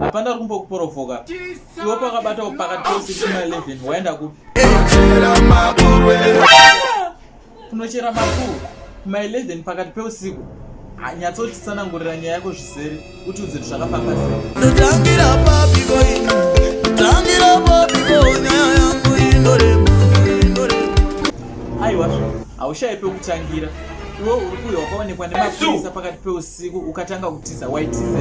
hapana uri kumbokuporofoka iwe pakabatawo pakati pose chima 11 waenda kupi kunochera makuru kuma 11 pakati peusiku nyatsotisanangurira nyaya yako zvizere kuti udziri zvakafamba aiwa haushaye pekutangira iwe uri kuyo wakaonekwa nemapurisa pakati peusiku Siku ukatanga kutiza waitiza.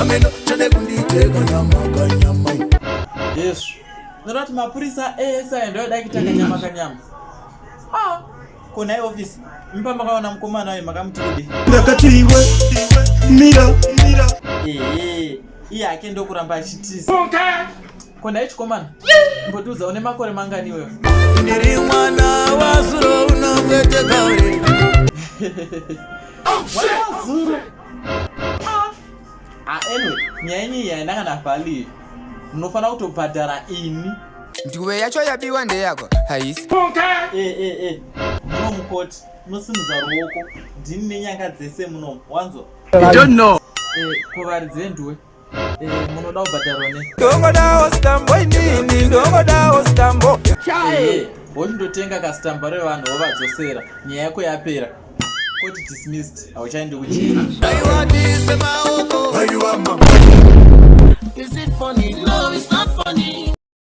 Ameno tende kunditeka nyama kanyama. Yes. Ndoda kuti mapurisa ese aenda oda kuita kanyama kanyama. Ah, kona ye office. Mpa makaona mkomana waye makamuti kudi. Ndakati iwe mira mira. Eh, iye ake ndokuramba achitiza. Okay. ko nhai chikomana mbotiudza une makore mangani iweyo ndiri mwana wazuro unokwete kauri wazuro ah. ah, anyway nyaya yenyu iyi haina kana valid munofanira kutobhadhara ini nduvo yacho yabiwa ndeyako haisi eh, eh, eh. muno mukoti munosimudza ruoko ndini nenyanga dzese munomu wanzwa kuvaridzi venduwe munoda kubhadharwa ne ndongodawo stambo inini ndongodawo stambo wochindotenga kastambo revanhu wovadzosera nyaya yako yapera koti dismissed hauchaendi kuchii